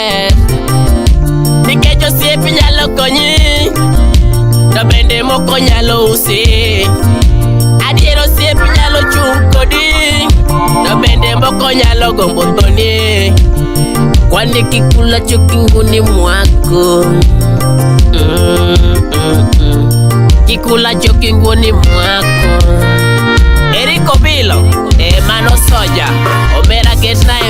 maber nikech osiep nyalo konyi to bende moko nyalo usi adier osiep nyalo chung' kodi to bende moko nyalo gombo thoni kwani kikula cho kinguni mwako Mm, mm, mm. kikula cho kinguni mwako Eric Obilo, eh, mano soja, omera ketna e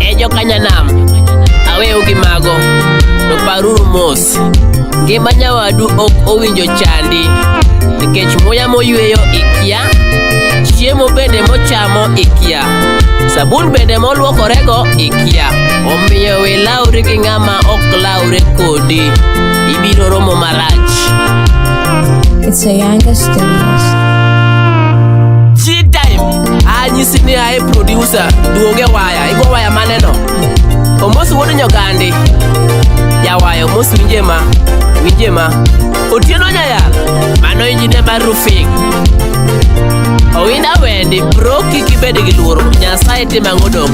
Ejo kanyanam aweyo gi mago to paruru mos ngima nyawadu ok owinjo chandi nikech muya moyweyo ikia chiemo bende mochamo ikia sabun bende molwokorego ikia omiyo we lawri gi ng'ama ok lawre kodi ibiro romo marach It's a Yanga Studios. anyisi ni ae producer duoge waya igo waya maneno omos wuod nyogandi jawayo omos winje ma winje ma otieno nyayal mano injine mar rufing owinda wendi bro kik ibed gi luoro nyasaye tim ang'o dong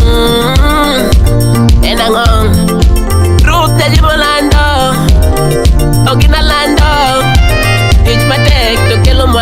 Mm, en ang'o ruth jajimolando ogina lando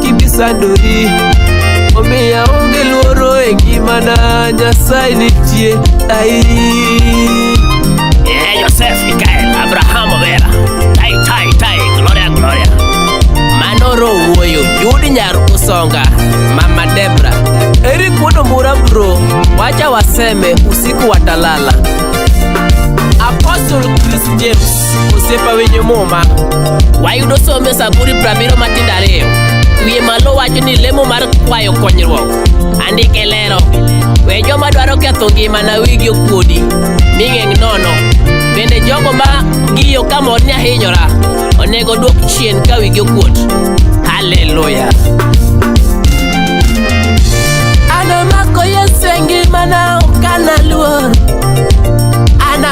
kisandori omiya onge luoro e ngimana nyasaye nitie ai Eh, Joseph Mikael Abraham Obera Tai Tai Tai Gloria Gloria Manoro Wuoyo Judy Nyar Usonga Mama Debra Eri kuono mura bro Wacha waseme usiku watalala Apostle Chris James osiepa winjo muma wayudo somo e saburi prabiro matindo ariyo wiye malo wacho ni lemo mar kwayo konyruok andike lero we joma dwaro ketho ngimana wigi okuodi mi ng'eng' nono bende jogo ma giyo ka mor ni ahinyora onego dwok chien ka wigi okuot haleluya anomako yesu e ngimana okanaluor ana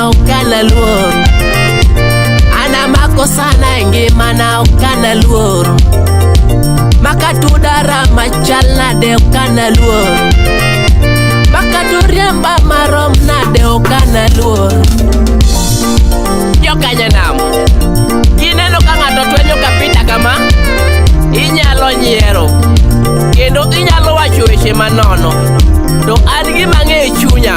okana luor ana makosana e ngimana okana luor makatudara machal nade okana luor makaturiemba marom nade okana luor jokanyanam kineno ka ng'ato twenyo kapita kama inyalo nyiero kendo inyalo wacho weche manono to an gima ng'eyo chunya